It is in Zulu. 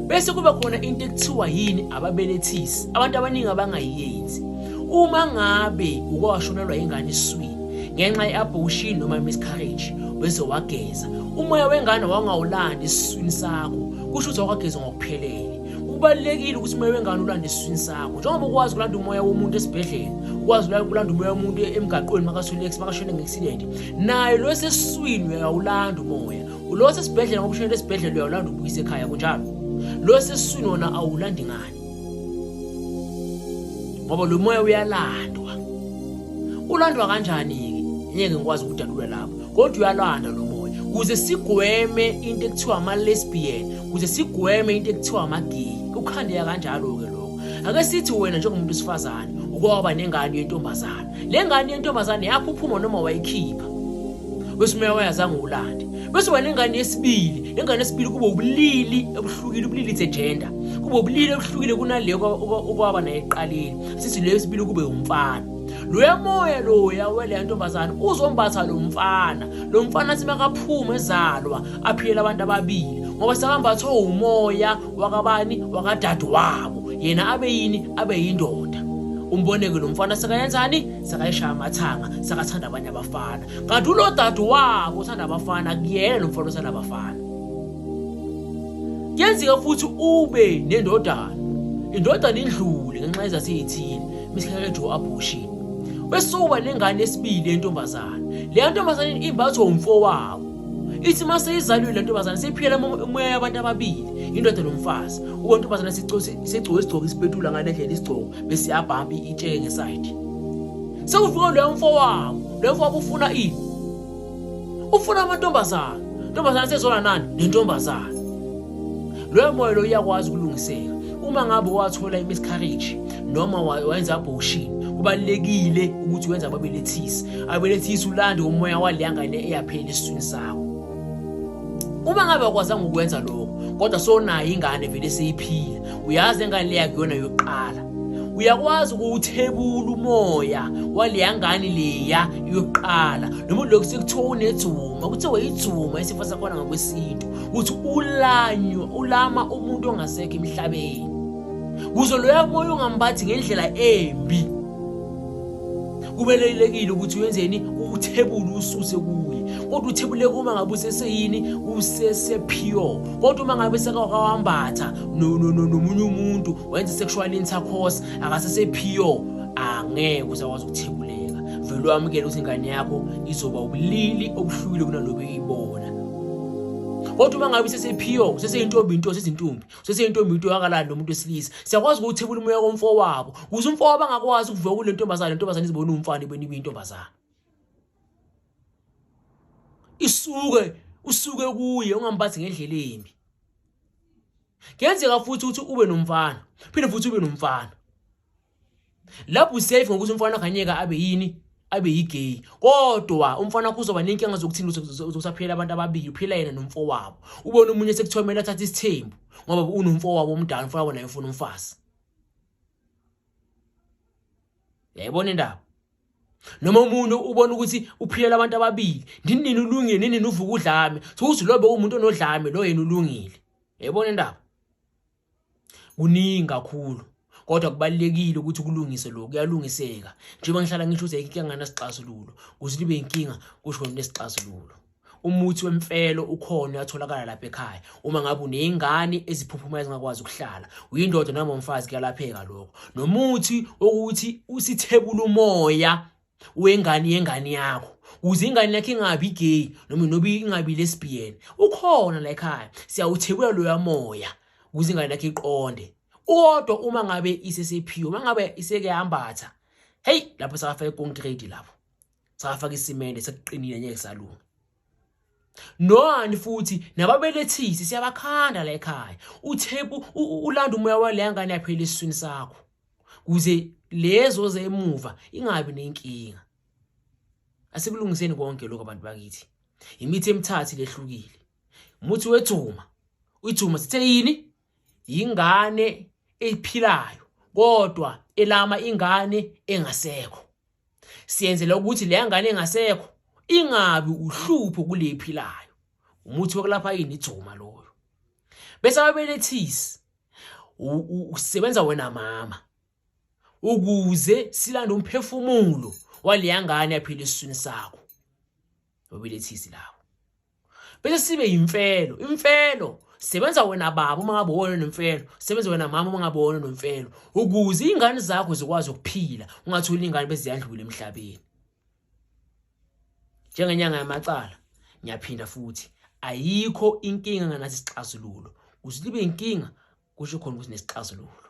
bese kuba khona into ekuthiwa yini ababelethisi abantu abaningi abangayiyenzi uma ngabe uke washonelwa ingane iswini ngenxa ye-abortion noma miscarriage bese wageza umoya wengane wangawulandi esiswini sakho kusho ukuthi awukageza ngokuphelele kubalulekile ukuthi umoya wengane ulande esiswini sakho njengoba ukwazi ukulanda umoya womuntu esibhedlela ukwazi ukulanda umoya womuntu emgaqweni makasulex makashone nge-accident nayo lo esesiswini uyawulanda umoya Lo wasesibhedlela ngoba ushonele esibhedlela uyawulanda ubuyise ekhaya kunjalo. Lo wasesiswini wona awulandi ngani. Ngoba lo moya uyalandwa. Ulandwa kanjani-ke? Ngeke ngikwazi ukudalula lapho. Kodwa uyalanda lo moya. Kuze sigweme into ekuthiwa ama-lesbian, kuze sigweme into ekuthiwa ama-gay. Ukhandeka kanjalo-ke lokho. Ake sithi wena njengomuntu wesifazane ukwaba nengane yentombazana. Le ngane yentombazane yakho uphuma noma wayikhipha. bese umeya wayazange ulande bese wena ingane yesibili ingane yesibili kube ubulili ebuhlukile ubulili it's a gender kube ubulili ebuhlukile kunaleyo okwaba naye eqaleni sithi leyo yesibili kube umfana loya moya loya weleya ntombazane uzombatha lo mfana lo mfana simakaphuma ezalwa aphiyela abantu ababili ngoba sekambathwe umoya wakabani wakadade wabo yena abe yini abe yindoda umboneke lo mfana sekayenzani sekayishaya amathanga sekathanda abanye abafana kanti ulo dade wabo uthanda abafana kuyena lo mfana uthanda abafana kuyenzeka futhi ube nendodana indodana indlule ngenxa yezathi eyithile misikhakejo abortion bese uba nengane esibili yentombazane leya ntombazane imbathwa umfowabo ithi uma seyizalwile le ntombazane seyiphikela umoya yabantu ababili indoda nomfazi uba ntombazane sigcoka isigcoka isipetula ngale ndlela isigcoka bese yabhamba itsheke ngesayidi sekufike loyo mfowabo loyo mfowabo ufuna ini ufuna amantombazana ntombazana sezona nani nentombazana loyo moya lo uyakwazi ukulungiseka uma ngabe wathola imiscarriage noma wayenza abortion kubalekile ukuthi wenza ababelethisi abelethisi ulande umoya waleya ngane eyaphela esiswini sakho uma ngabe akwazanga ukwenza lokho kodwa sonayo ingane vele seyiphila uyazi engane leya kuyona yokuqala uyakwazi ukuwuthebula umoya waleya ngane leya yokuqala noma lokhu sekuthiwa unedzuma kuthiwa yidzuma isifo sakhona ngokwesintu ukuthi ulanyo ulama umuntu ongasekho emhlabeni kuze loya moya ungambathi ngendlela embi kubelelekile ukuthi wenzeni uthebule ususe kuye kodwa uthebule uma ngabe useseyini usesepure kodwa uma ngabe sekawambatha nomunye umuntu wenza sexual intercourse akasesepure angeke usakwazi ukuthebuleka vele wamukele ukuthi ingane yakho izoba ubulili obuhlukile kunalobu iyibona kodwa uma ngabe usesepure useseyintombi into sezintombi sesentombi into yangalani nomuntu wesilisa siyakwazi ukuthebula umoya komfo wabo kuze umfo wabo angakwazi ukuvuka kule ntombazane le ntombazane izibona umfana ibeni kuyintombazane isuke usuke kuye ungambathi ngendlela embi kuyenzeka futhi ukuthi ube nomfana phinde futhi ube nomfana lapho usafe ngokuthi umfana kanyeka abe yini abe yigay kodwa umfana wakho uzoba nenkinga zokuthini uzosaphila abantu ababili uphila yena nomfowabo ubona umunye sekuthomela athatha isithembu ngoba unomfowabo omdala umfana wona ufuna umfazi yayibona indaba noma umuntu ubona ukuthi uphilela abantu ababili ndini nini ulungile nini nini uvuka udlame sokuthi lobe umuntu onodlame lo yena ulungile yayibona indaba kuningi kakhulu kodwa kubalekile ukuthi kulungise lokho kuyalungiseka njengoba ngihlala ngisho ukuthi ayikho ngana sixazululo kuthi libe inkinga kusho nesixazululo umuthi wemfelo ukhona uyatholakala lapha ekhaya uma ngabe unezingane eziphuphumayo ezingakwazi ukuhlala uyindoda noma umfazi kuyalapheka lokho nomuthi ukuthi usithebula umoya wengane yengane yakho kuze ingane yakhe ingabi gay noma nobi ingabi lesbian ukhona la ekhaya siyawuthebula loya moya kuze ingane yakhe iqonde kodwa uma ngabe isesephiwe uma ngabe iseke yambatha hey lapho sakafaka icontrate lapho sakafaka isimende sekuqinile ngeke salunga Noani futhi nababelethisi siyabakhanda la ekhaya. Uthepu ulanda umoya waleya ngane yaphela esiswini sakho. Kuze lezo zemuva ingabi nenkinga. Asikulungiseni konke lokho abantu bakithi. Imithi emithathu lehlukile. Umuthi wethuma. Ithuma sithe yini? Yingane ephilayo kodwa elama ingane engasekho. siyenzela ukuthi leya ngane engasekho ingabi uhlupho kulephi layo umuthi wokulapha yini ijoma loyo bese ababelethisi usebenza wena mama ukuze silande umphefumulo waleya ngane yaphila esiswini sakho babelethisi lawo bese sibe yimfelo imfelo sebenza wena baba uma ngabe wona nomfelo sebenza wena mama uma ngabe wona nomfelo ukuze ingane zakho zikwazi ukuphila ungatholi ingane beziyandlula emhlabeni njengenyanga yamacala ngiyaphinda futhi ayikho inkinga nganathi isixazululo kuze libe inkinga kusho khona ukuthi nesixazululo